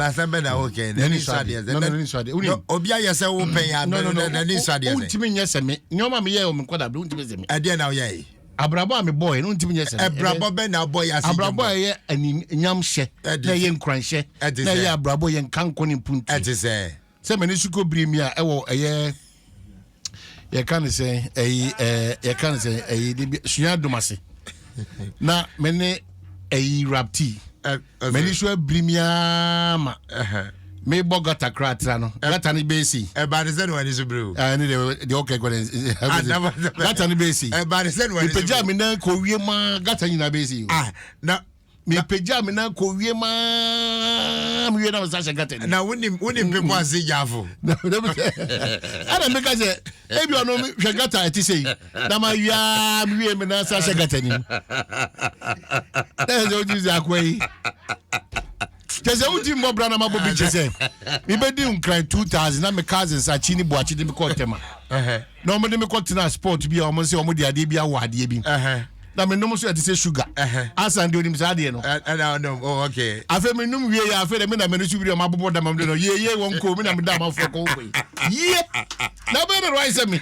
asɛm bɛ na wo kɛ na ni sa deɛ sɛ na ni sa deɛ o ni obi ayɛ sɛ wo pɛn ya no no na ni sa deɛ sɛ o ntumi nyɛ sɛ me nneɛma mi yɛ o mi nkɔ da bi o ntumi sɛ me ɛdeɛ na o yɛ yi abrabɔ a mi bɔ yɛ no ntumi nyɛ sɛ me abrabɔ bɛ na bɔ yɛ ase abrabɔ a yɛ ani nyam hyɛ na yɛ nkuran hyɛ na yɛ abrabɔ yɛ nkanko ne mpuntu ɛte sɛ sɛ m'ani so kɔ biri mi a ɛwɔ ɛyɛ yɛka ne sɛ ɛyi ɛɛ yɛka ne sɛ ɛyi de bi sua dom ase na me ne ɛyi rapti m'ani so abiri mi aa ma me bɔ gata kora atra no gata ne bɛɛ si. ɛbaade sɛ ne wani so biri o. ɛɛ ne de de ɔkɛ kɔ ne gata ne bɛɛ si. ɛbaade sɛ ne wani so biri o. mipagya mi nan kɔ wie maa gata nyinaa bɛɛ si o. ah na. mepagyaa me nan kɔ wiem aa mewie na mesa hyɛ gata ni na wonim wonim pepo ase gyafo ɛna meka sɛ ebi ɔno hwɛ gata ɛte sɛ yi na mawie aa mewie me nan sa hyɛ gata ni na ɛsɛ wogye sɛ akoa yi kyɛ sɛ wodi mmɔ bra na mabɔ bi kyɛ sɛ mebɛdi nkran 2000 na me cousins akyi ne boakye de mekɔ ɔtɛma na ɔmode mekɔ tena sport bi a ɔmo sɛ ɔmode adeɛ bi awɔ adeɛ bi na menom nso ɛte sɛ sugar asan deɛ onim saa adeɛ no oh, afei menom wie yɛ afei dɛ me na mene so wiri ɔma abobɔ dama mde no yeye wɔn koo me na meda amanfoɔ kɔ wokɔ yie na bɛyɛ dɛ no ayɛ sɛ me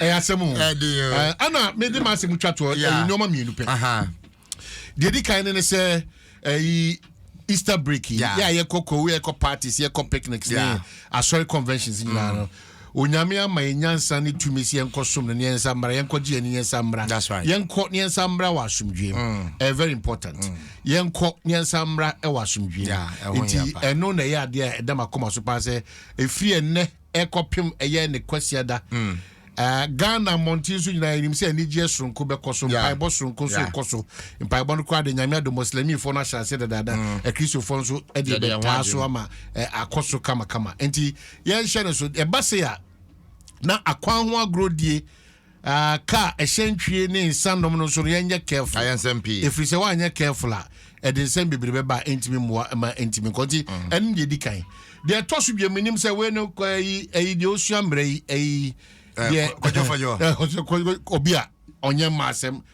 ɛyɛ asɛm o ɛna mede ma asɛm twa toɔ ɛyɛ nneɛma mmienu pɛ deɛ di kan ne ne sɛ ɛyi easter break yi yɛ a yɛkɔ kowu yɛkɔ parties yɛkɔ picnics ne asɔre conventions nyinaa no mm. onyame ama yɛn nyansa ne tumi sɛ yɛnkɔ som no ne yɛnsa mmra yɛnkɔ gye yɛn ne yɛnsa mmra yɛnkɔ ne yɛnsa mmra wɔ asomdwoe mu mm. ɛyɛ very important mm. yɛnkɔ ne yɛnsa mmra wɔ asomdwoe mu nti ɛno na ɛyɛ adeɛ a ɛda makoma so paa sɛ ɛfiri ɛnnɛ ɛrekɔpem ɛyɛ ne Kwasiada. Ghana mmɔnten so nyinaa yɛnim sɛ anigyeɛ soronko bɛkɔ so, mpaebɔ soronko nso rekɔ so. Mpaebɔ no koraa de Nyame adom Moslemifoɔ no ahyɛ aseɛ dadaada, Akristofoɔ nso de bɛtaa so ama akɔ so kamakama. Enti yɛnhyɛ no so. Ɛba sei a, na akwan ho agorɔdie Ah, car, ɛhyɛn twie ne nsa nom no nso no yɛnyɛ careful. Ayɛ nsɛm pii. Ɛfiri sɛ woanyɛ careful a, ɛde nsɛm bebree bɛba a ɛntumi mmoa ma ɛntumi nkɔ. Nti mm. ɛno deɛ ɛdi kan. Deɛ ɛtɔ so biam menim sɛ wei no ayi ayi deɛ ɔsua mmerɛ yi ayi. Eh, deɛ kɔjɔfɔjɔ. Eh, obi a ɔnyɛ mma asɛm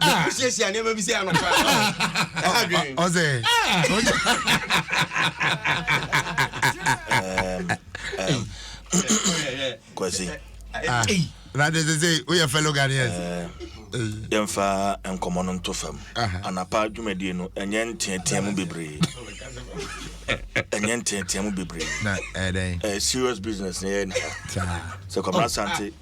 bɛkɔ siesie a nneɛma bi sɛ anɔpa ɔsɛ kwasi na de sɛ sɛ woyɛ fellow ghanaians yɛmfa nkɔmmɔ no nto fam anapa dwumadie no ɛnyɛ nteatea mu bebree ɛnyɛ nteatea mu bebree serious business na yɛyɛ nika sɛ kɔmra sante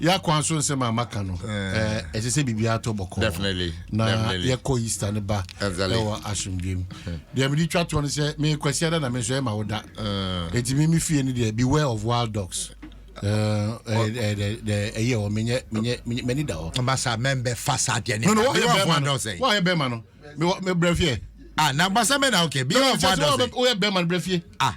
yɛ akwan so nsɛm a maka no ɛsɛ sɛ biribiara tɔ bɔkɔɔ na yɛkɔ easter no ba ɛwɔ asomdwam deɛ mede twa toɔ no sɛ mekwasi ada na me nso ɛma wo da ɛti me me fie no deɛ beware of wild dogs ɛyɛ hɔ menyɛ m'ani da hɔ basa mɛmbɛ fa saa deɛ ne woayɛ bɛma no mebrɛ fie ah na basa mɛ na okay bi yɛ wild dogs woyɛ bɛma no brɛ fie ah